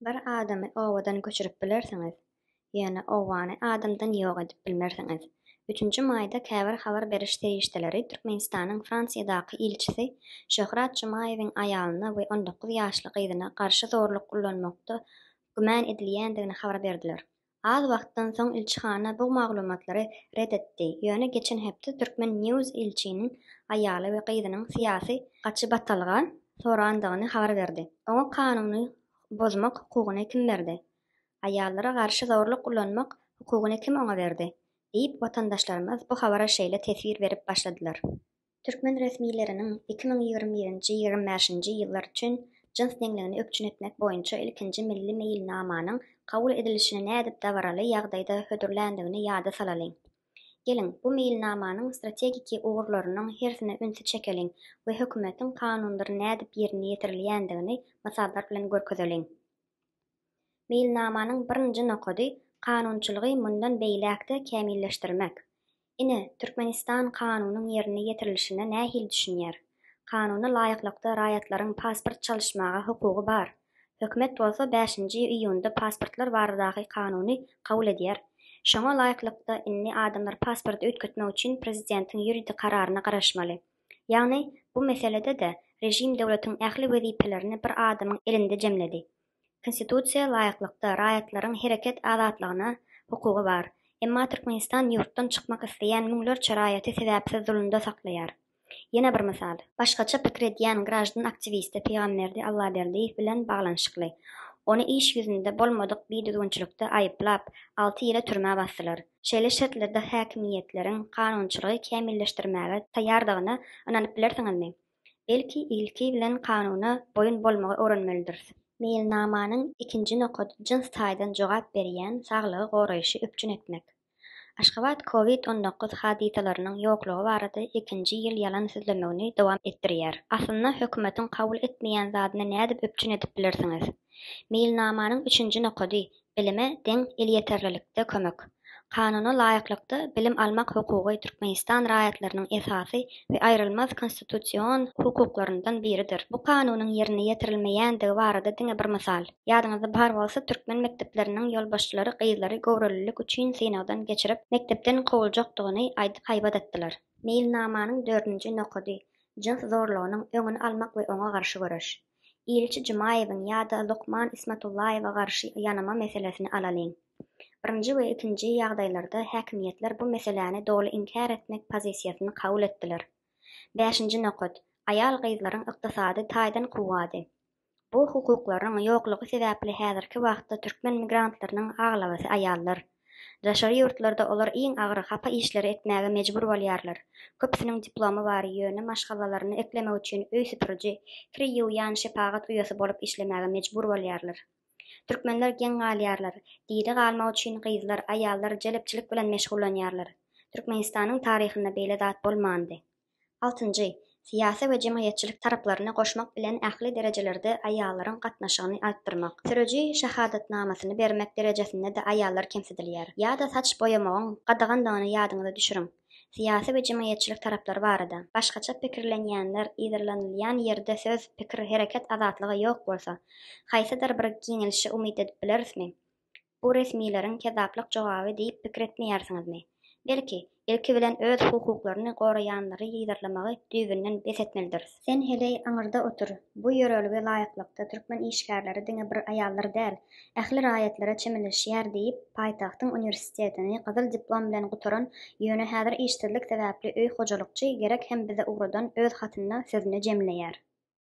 Bir adamy obadan göçürip bilersiňiz, ýöne obany adamdan ýok edip bilmersiňiz. Üçünji maýda käbir habar beriş serişdeleri Türkmenistanyň Fransiýadaky ilçisi Şöhrat Jumaýewiň aýalyna we on dokuz ýaşly gyzyna garşy zorluk ullanmakda güman edilýändigini habar berdiler. Az wagtdan soň ilçihana bu maglumatlary ret etdi, ýöne geçen hepde Türkmen. News ilçiniň aýaly we gyzynyň syýasy gaçybatalga sorandygyny habar berdi. Oňa kanuny bozmak hukugyny kim berdi? Aýallara garşy zorluk ulanmak hukugyny kim oňa berdi? diýip, watandaşlarymyz bu habara şeýle teswir berip başladylar. Türkmen resmileriniň iki müň ýigrimi birinji, ýigrimi bäşinji ýyllar üçin jyns deňligini üpjün etmek boýunça ilkinji milli meýilnamanyň kabul edilişini nädip dabaraly ýagdaýda hödürländigini ýada salalyň. Geliň, bu meýilnamanyň strategiki ugurlarynyň hersine ünsi çekeliň we hökümetiň kanundyr nädip ýerine ýetirilýändigini mysallar bilen görkezeliň. Meýilnamanyň birinji nokady kanunçylygy mundan beýläk-de kämilleşdirmek. Ine, Türkmenistan kanunyň ýerine ýetirilişine nähili düşünýär? Kanuna laýyklykda raýatlaryň pasport çalyşmaga hukugy bar. Hökümet bolsa bäşinji iýunda pasportlar baradaky kanuny kabul edýär. Şoňa laýyklykda indi adamlar pasporty üýtgetmek üçin prezidentiň ýuridik kararyna garaşmaly. Ýagny, bu meselede-de režim döwletiň ähli wezipelerini bir adamyň elinde jemledi. Konstitusiýa laýyklykda raýatlaryň hereket azatlygyna hukugy bar. Emma Türkmenistan ýurtdan çykmak isleýän müňlerçe raýaty sebäpsiz zulumda saklaýar. Ýene bir mysal. Başgaça pikir edýän graždan aktiwisti Pygamberdi Allaberdiýew bilen baglanyşykly. Ony iş ýüzünde bolmadyk bidüzgünçilikde aýyplap, alty ýyla türmä basdylar. Şeýle şertlerde häkimiýetleriň kanunçylygy kämilleşdirmäge taýýardygyna ynanyp bilersiňizmi? Belki, ilki bilen kanuna boýun bolmagy öwrenmelidiris. Meýilnamanyň ikinji nokady jyns taýdan jogap berýän saglygy goraýşy üpjün etmek. Aşgabat Covid on dokuz hadysalarynyň ýoklugy barada ikinji ýyl ýalan sözlemegini dowam etdirýär. Aslynda hökümetiň kabul etmeýän zadyny nädip üpjün edip bilersiňiz? Meýilnamanyň üçünji nokady Bilime deň elýeterlilikde kömek. Kanuna laýyklykda bilim almak hukugy Türkmenistan raýatlarynyň esasy we aýrylmaz konstitusion hukuklaryndan biridir. Bu Kanunyň ýerine ýetirilmeýändigi barada diňe bir mysal. Ýadyňyzda bar bolsa, türkmen mekdepleriniň ýolbaşçylary gyzlary göwrelilik üçin synagdan geçirip, mekdepden kowuljakdygyny aýdyp haýbat atdylar. Meýilnamanyň dördünji nokady, jyns zorlugynyň öňüni almak we oňa garşy göreş. Ilçi Jumaýewiň ýa-da lukman Ismatullaýewe garşy ýanama meselesini alalyň. Birinji we ikinji ýagdaýlarda häkimiýetler bu meseläni doly inkär etmek pozisiýasyny kabul etdiler. Bäşinji nokat, aýal-gyzlaryň ykdysady taýdan kuwwady. Bu hukuklaryň ýoklugy sebäpli häzirki wagtda türkmen migrantlarynyň aglabasy aýallar. Daşary ýurtlarda olar iň agyr, hapa işleri etmäge mejbur bolýarlar. Köpüsiniň diplomy bar, ýöne maşgalalaryny eklemek üçin öý süpüriji, kir ýuwýan, şepagat uýasy bolup işlemäge mejbur bolýarlar. Türkmenler geň galýarlar. Diri galmak üçin gyzlar, aýallar jelepçilik bilen meşgullanýarlar. Türkmenistanyň taryhynda beýle zat bolmandy. Altynjy, syýasy we jemgyýetçilik taraplaryny goşmak bilen ähli derejelerde aýallaryň gatnaşygyny artdyrmak. Sürüji şahadatnamasyny bermek derejesinde-de aýallar kemsidilýär. Ýa-da saç boýamagyň gadagandygyny ýadyňyza düşüriň. Syýasy we jemgyýetçilik taraplary barada, başgaça pikirlenýänler yzarlanylýan ýerde söz, pikir, hereket azatlygy ýok bolsa, haýsydyr bir giňelişe umyt edip bilerismi? Bu resmileriň kezzaplyk jogaby diýip pikir etmeýärsiňizmi? Belki, ilki bilen öz hukuklaryny goraýanlary yzarlamagy düýbünden bes etmelidiris. Sen heleý aňyrda otur. Bu ýörelgä laýyklykda türkmen işgärleri diňe bir aýallar däl, ähli raýatlara çemeleşýär diýip, paýtagtyň uniwersitetini gyzyl diplom bilen gutaran, ýöne häzir işsizlik sebäpli öý hojalykçy Gerek hem bize ugradan öz hatynda sözüni jemleýär.